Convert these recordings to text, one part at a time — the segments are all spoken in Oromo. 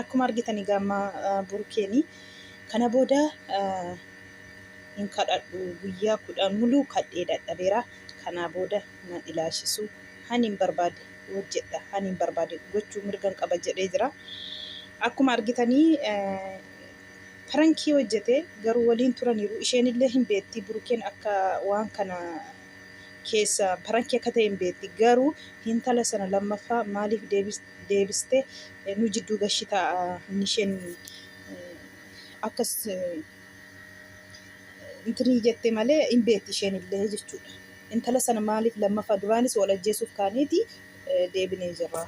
Akkuma argitan egaa amma burkeeni kana booda hin kadhadhu guyyaa kudhan muluu kadhee dadhabeera kanaa booda na ilaashisu han hin barbaade hojjedha han hin barbaade gochuu mirgan qaba jedhee jira akkuma argitanii pirankii hojjete garuu waliin turaniiru isheenillee hin beetti burkeen akka waan kana keessa pirankii akka ta'e hin beetti garuu hintala sana lammaffaa maaliif deebiste deebiste nu jidduu gashita inni isheen akkas intinii jette malee hin beekti isheen illee jechuudha. Intala sana maaliif lammaffaa duraanis wal ajjeesuuf kaaneeti deebinee jirra.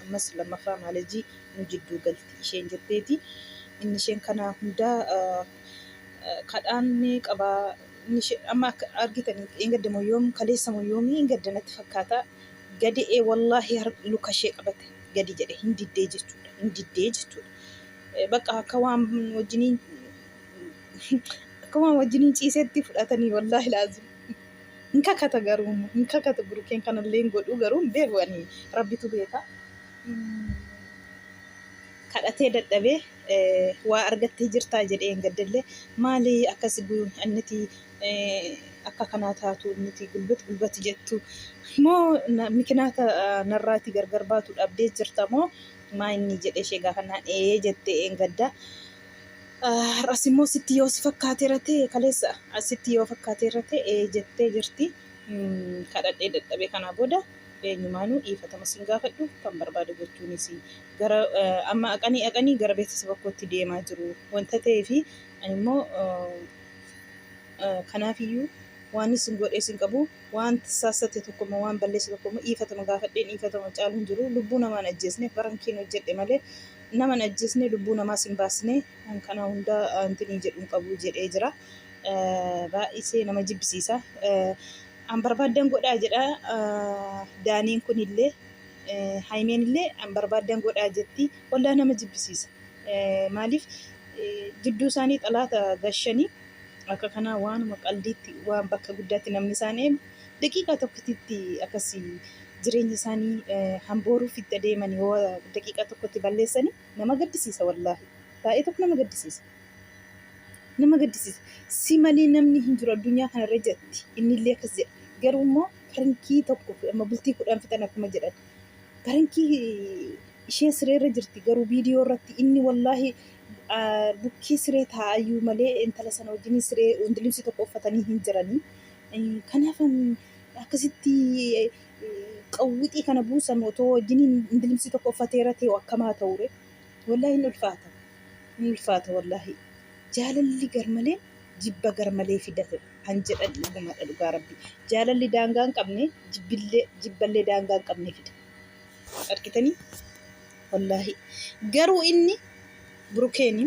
Ammas lammaffaa maalajii nu jidduu galti isheen jetteeti. Inni isheen kanaa hundaa kadhaan ni qabaa. Inni ishee amma akka argitan eeggaddamoo yoom kaleessamoo yoomii hin gaddanatti fakkaata. Gadi'e wallahi har lukashee qabate gadi jedhe hin diddee jechuudha hin diddee jechuudha baqa akka waan wajjiniin akka waan wajjiniin ciisetti fudhatanii wallahi laazim hin kakata garuu hin kakata burukeen kanallee hin godhuu garuu hin beeku ani rabbitu beeka kadhatee dadhabee waa argattee jirtaa jedhee hin gaddellee maali akkas anniti akka kanaa taatu nuti gulbat gulbat jettu moo mikinaata narraati gargar baatu dhabdee jirta moo maa inni jedhe ishee gaafannaan ee jette eengadda har'as immoo sitti yoo si fakkaate irra ta'e kaleessa asitti yoo fakkaate irra ta'e ee jettee jirti kadhadhee dadhabee kanaa booda eenyumaanuu dhiifatama sin gaafadhu kan barbaadu jechuunis gara amma aqanii aqanii gara beeksisa bakkootti deemaa jiru wanta ta'eefi ani immoo Kanaafiyyuu waan isin godhe isin qabu waan saassate tokkommoo waan balleesse tokkommoo dhiifatama gaafadheen dhiifatama caalu hin jiru lubbuu namaan ajjeesne barankeen hojjedhe malee naman ajjeesne lubbuu namaa sin baasne kana hundaa antinii jedhu hin qabu jedhee jira. Baay'isee nama jibbisiisa. An barbaadan godhaa jedha daaniin kunillee haymeenillee an barbaadan godhaa jetti hollaa nama jibbisiisa. Maaliif jidduu isaanii xalaata gashanii akka kanaa waanuma qaldiitti waan bakka guddaatti namni isaan eegu daqiiqaa tokkititti akkasii jireenya isaanii hambooruuf itti adeeman yoo daqiiqaa tokkotti balleessanii nama gaddisiisa wallaahi baay'ee tokko nama gaddisiisa. Nama gaddisiisa si malee namni hin jiru addunyaa kanarra jetti innillee akkas jedha garuu immoo pirankii tokko amma bultii kudhan fixan akkuma jedhan pirankii Isheen siree irra jirti garuu viidiyoo irratti inni wallaahi bukkee siree taa'ayyuu malee intala sana wajjin siree hundilibsi tokko uffatanii hin jiranii. Kanaaf akkasitti qawwixii kana buusan otoo wajjin hundilibsi tokko uffateera ta'e akkamaa ta'ure. Wallaahi hin ulfaata. Hin ulfaata wallaahi. Jaalalli garmalee jibba garmalee fidate kan jedhan dhugumadha dhugaa rabbi. Jaalalli daangaa hin qabne jibbillee jibballee daangaa hin qabne fida. argitanii wallaahi garuu inni burukeeni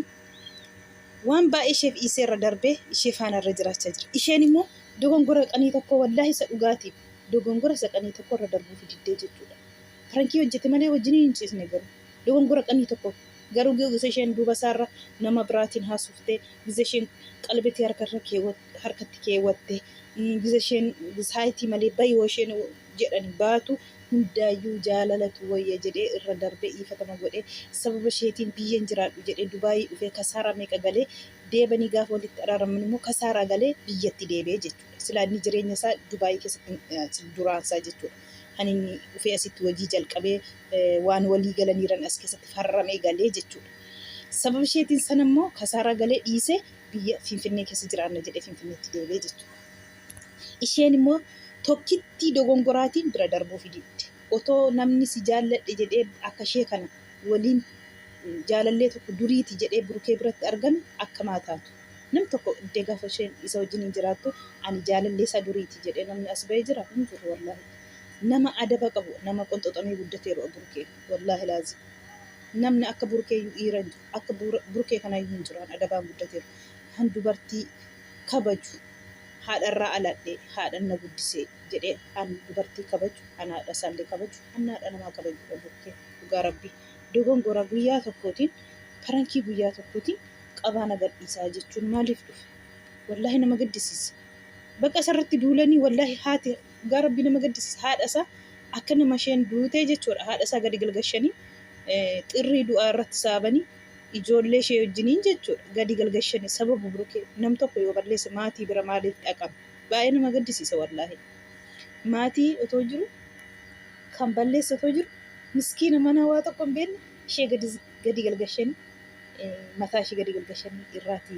waan baay'ee isheef dhiisee irra darbee ishee faana irra jiraachaa jira isheen immoo dogongora qanii tokko wallaahi isa dhugaatiif dogongora isa qanii tokko irra darbuu fididdee jechuudha farankii hojjete malee wajjin hin ciisne garuu dogongora qanii tokko garuu gisa isheen duuba isaarra nama biraatiin haasuftee gisa isheen qalbetii harkatti keewwatte gisa isheen saayitii malee bayoo isheen jedhan baatu hundaayyuu jaalalatu wayya jedhee irra darbee dhiifatama godhee sababa isheetiin biyyan jiraadhu jedhee dubaayii dhufee kasaaraa meeqa galee deebanii gaafa walitti araaraman immoo kasaaraa galee biyyatti deebi'e jechuudha silaa inni jireenya isaa dubaayii keessatti duraan isaa jechuudha kan inni dhufee asitti hojii jalqabee waan walii galaniiran as keessatti farramee galee jechuudha sababa isheetiin sana immoo kasaaraa galee dhiisee biyya finfinnee keessa jiraanna jedhee finfinneetti deebi'e jechuudha. Isheen immoo tokkittii dogongoraatiin bira darbuufi didde. Otoo namni si jaalladhe jedhee akka ishee kana waliin jaalallee tokko duriiti jedhee Burukee biratti argame akkam haa taatu? Namni tokko iddee gaafa isheen isa wajjin hin jiraattu ani jaalallee isaa duriiti jedhee namni as ba'e jira? Hin jiru wallaahi. Nama adaba qabu nama qonxoxamee guddateerudha Burukee wallaahi laazim. Namni akka Burukeeyyuu dhiira hin jiru. Akka Burukee kanaayyuu hin jiru an adabaan guddateeru. Kan dubartii kabaju haadharraa aladhee haadhan na guddisee jedhee an dubartii kabaju an haadha isaallee kabaju an haadha namaa kabajuudha bukkee dhugaa rabbii dogongora guyyaa tokkootiin parankii guyyaa tokkootiin qabaa na gadhiisaa jechuun maaliif dhufe wallaahi nama gaddisiisa baqa isarratti duulanii wallaahi haati dhugaa rabbii nama gaddisiisa haadha isaa akka nama isheen duutee jechuudha haadha isaa gadi galgashanii xirrii du'aa irratti saabanii Ijoollee ishee wajjiniin jechuudha gadi galgashani sababu birukee nam tokko yoo balleesse maatii bira maaliif dhaqama baay'ee nama gaddisiisa wallaahi maatii otoo jiru kan balleesse otoo jiru miskiina mana waa tokko hin beekne ishee gadi gadi galgashani mataa ishee gadi galgashani irraati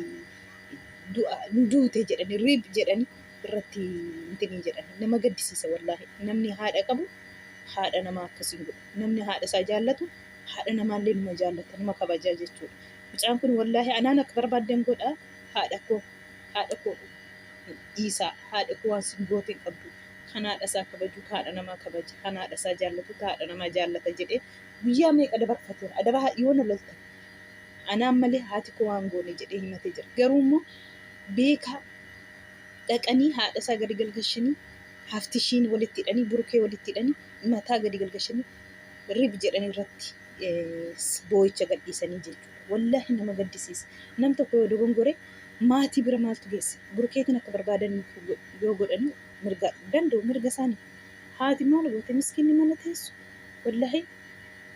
du'a hin duute jedhani riib jedhani irratti intinii jedhani nama gaddisiisa wallaahi namni haadha qabu haadha namaa akkasiin godhu namni haadha isaa jaallatu haadha namaallee numa jaallata numa kabajaa jechuudha mucaan kun wallaahi anaan akka barbaaddan godha haadha koo haadha koo dhiisaa haadha koo waan sin goote hin qabdu kan haadha isaa kabaju kan haadha namaa kabaja kan haadha isaa jaallatu kan haadha namaa jaallata jedhee guyyaa meeqa dabarfateera adaba haa yoo na lolta anaan malee haati koo waan goone jedhee himatee jira garuu immoo beekaa dhaqanii haadha isaa gadi galgashanii haftishiin walitti hidhanii burkee walitti hidhanii mataa gadi galgashanii rib jedhan irratti boo'icha gadhiisanii jechuudha. Wallaahi nama gaddisiisa. Nam tokko yoo dogongore maatii bira maaltu geesse? Burkeetiin akka barbaadan yoo godhan mirga danda'u mirga isaanii. Haati maal goote miskiinni mana teessu? Wallaahi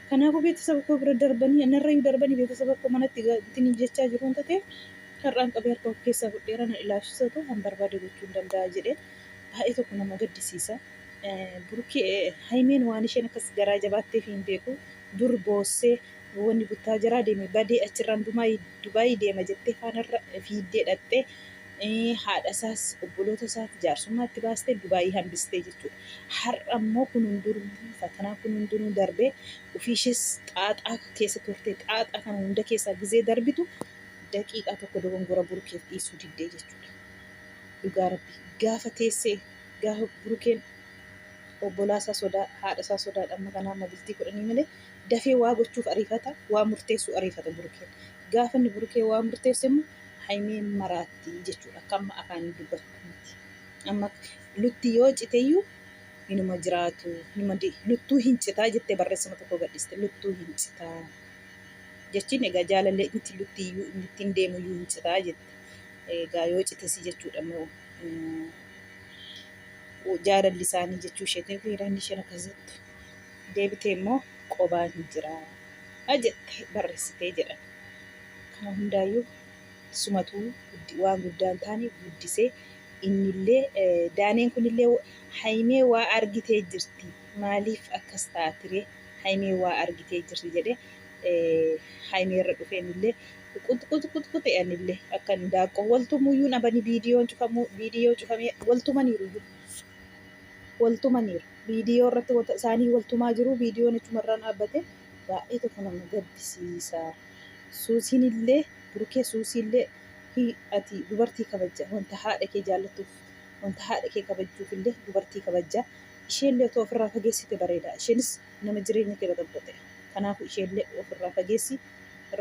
kanaafuu beeksisaba koo bira darbanii narrayyuu darbanii beeksisaba koo manatti ittiin jechaa jiru wanta ta'eef har'aan qabee harka of keessaa fudheera na ilaafsisatu han barbaade gochuun danda'a jedhee baay'ee tokko nama gaddisiisa. Burkee haymeen waan isheen akkas garaa jabaatteef hin beeku dur boossee wanni buttaa jiraa deeme badee achirraan dumaa dubaayii deema jettee faanarra fiiddee dhaqxee haadha isaas obboloota isaati jaarsummaa itti baastee dubaayii hambistee jechuudha. Har'a immoo kun hundinuu fatanaa kun hundinuu darbee ofii ishees xaaxaa keessa turtee xaaxaa kana hunda keessaa gizee darbitu daqiiqaa tokko dogongora burkeef dhiisuu diddee jechuudha. Dhugaa rabbi gaafa teessee Gahu burukeen obbolaa isaa sodaa haadha isaa sodaadha amma kanaa amma bultii kudhanii malee dafee waa gochuuf ariifata waa murteessuu ariifata burukeen gaafa inni burukee waa murteesse immoo haymee maraatti jechuudha akka amma afaanii dubbatanitti amma lutti yoo citeyyuu inuma jiraatu inuma di- luttuu hin citaa jettee barreessama tokko gadhiste luttuu hin citaa jechiin egaa jaalallee miti luttiyyuu inni ittiin deemuyyuu hin citaa jette egaa yoo citesi jechuudha immoo jaalalli isaanii jechuu isheetii fi hiriyoonni isheen akkas jettu deebitee immoo qobaa hin jiraa jette barreessitee jedhan kana hundaayyuu sumatuu waan guddaan taane guddisee innillee daaneen kunillee haymee waa argitee jirti maaliif akkas taatiree haymee waa argitee jirti jedhee haymee irra dhufee innillee Qut qut qut qut eanille akka indaaqqoo wal tumuyyuu nabani viidiyoon cufamuu viidiyoo cufamee wal tumaniiruyyuu wal tumaniiru viidiyoo irratti wata isaanii wal tumaa jiru viidiyoon achumarraan dhaabbate baay'ee tokko nama gaddisiisa suusiin illee burkee suusii illee hi ati dubartii kabajja wanta haadha kee jaallattuuf wanta haadha kee kabajjuuf illee dubartii kabajja ishee illee otoo ofirraa fageessite bareeda isheenis nama jireenya kee baxaxaxe kanaafuu ishee illee ofirraa fageessi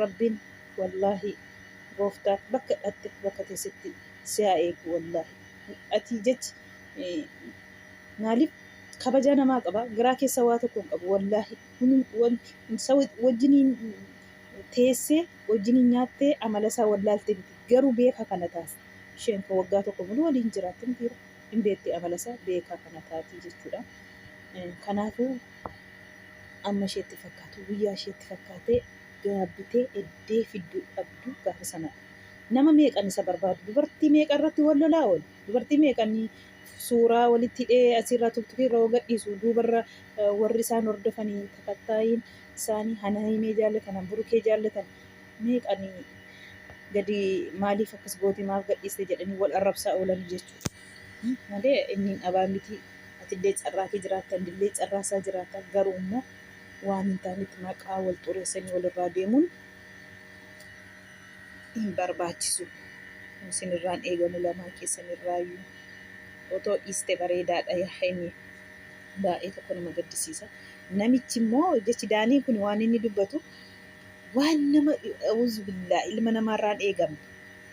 Rabbiin wallahi gooftaan bakka dhatte bakka teessetti si haa eegu wallahi ati jechi maaliif kabajaa namaa qaba garaa keessa waa tokko hin qabu wallahi wajjiniin teessee wajjiniin nyaattee amala isaa wallaalte miti garuu beeka kana taas isheen kan waggaa tokko muluu waliin jiraatte mitiira hin beetti amala isaa beekaa kana taati jechuudha kanaafuu Amma isheetti fakkaatu guyyaa isheetti fakkaatee gaabbitee eddee fidduu dhabdu gaafa sanadha. Nama meeqan isa barbaadu dubartii meeqa irratti wal lolaa oolu dubartii meeqan suuraa walitti hidhee asirraa tuktukii irra gadhiisu duubarra eh, warri isaan hordofanii takattaayiin isaanii hana himee jaallatan han burukee jaallatan meeqan gadi maaliif akkas goote maaf gadhiiste jedhanii wal arrabsaa oolanii jechuudha. Hmm, Malee inni hin dhabaa miti atillee carraa kee jiraatta innillee carraa isaa jiraata garuu immoo waan hin taanetti maqaa wal xureessanii walirraa deemuun hin barbaachisu isinirraan eegamu lamaan keessanirraayyuu otoo dhiiste bareedaadha yaa haymi baay'ee tokko nama gaddisiisa namichi immoo jechi daanii kun waan inni dubbatu waan nama auzu billaa ilma namaarraan eegamne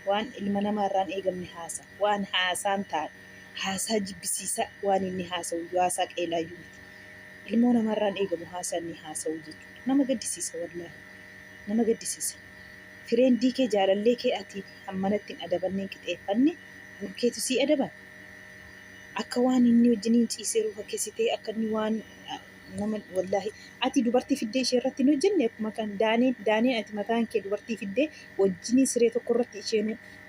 waan ilma namaarraan eegamne haasa waan haasaan taa'e Haasaa jibbisiisaa waan inni haasa'uyyuu haasaa qeelaayyuu miti. Ilmoo namaarraa hin eegamu haasaa inni haasa'uu jechuudha. Nama gaddisiisa wallaahi. Nama gaddisiisa. Fireendii kee jaalallee kee ati hammanatti hin adabanne hin qixeeffanne bor keetu sii adaba? Akka waan inni wajjiniin ciisee ruuka keessitee akka inni waan nama wallaahi ati dubartii fiddee ishee irratti hin hojjenne akkuma kan daaneen daaneen ati mataan kee dubartii fiddee wajjiniin siree tokko irratti isheen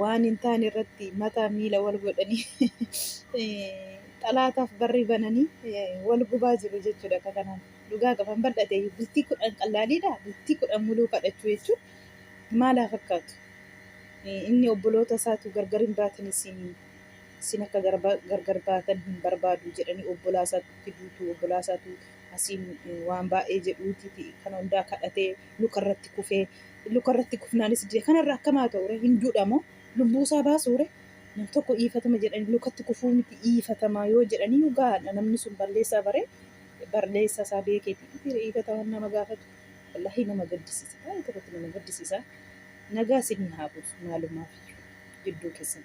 waan hin taane irratti mataa miila wal godhanii xalaataaf barri bananii wal gubaa jiru jechuudha akka kanaan. Dhugaa qaban bal'ate bultii kudhan qallaaliidha bultii kudhan muluu kadhachuu jechuun maalaa fakkaatu. Inni obboloota isaatu gargar hin baatin isin isin akka gargar baatan hin barbaadu jedhanii obbolaa isaatti duutu obbolaa isaatu asiin waan baay'ee jedhuuti kan hundaa kadhatee lukarratti kufee lukarratti kufnaanis du'e kanarra akkam haa ta'u ree hin duudha moo lubbuusaa baasuu ree nam tokko dhiifatama jedhanii lukatti kufuu miti dhiifatamaa yoo jedhaniyyuu gahaadha namni sun balleessaa baree barleessaa isaa beekeeti miti dhiifataman nama gaafatu wallaahi nama gaddisiisa baay'ee tokkotti nama gaddisiisa nagaa isinii haa buusu maalumaafiyyuu jidduu keessan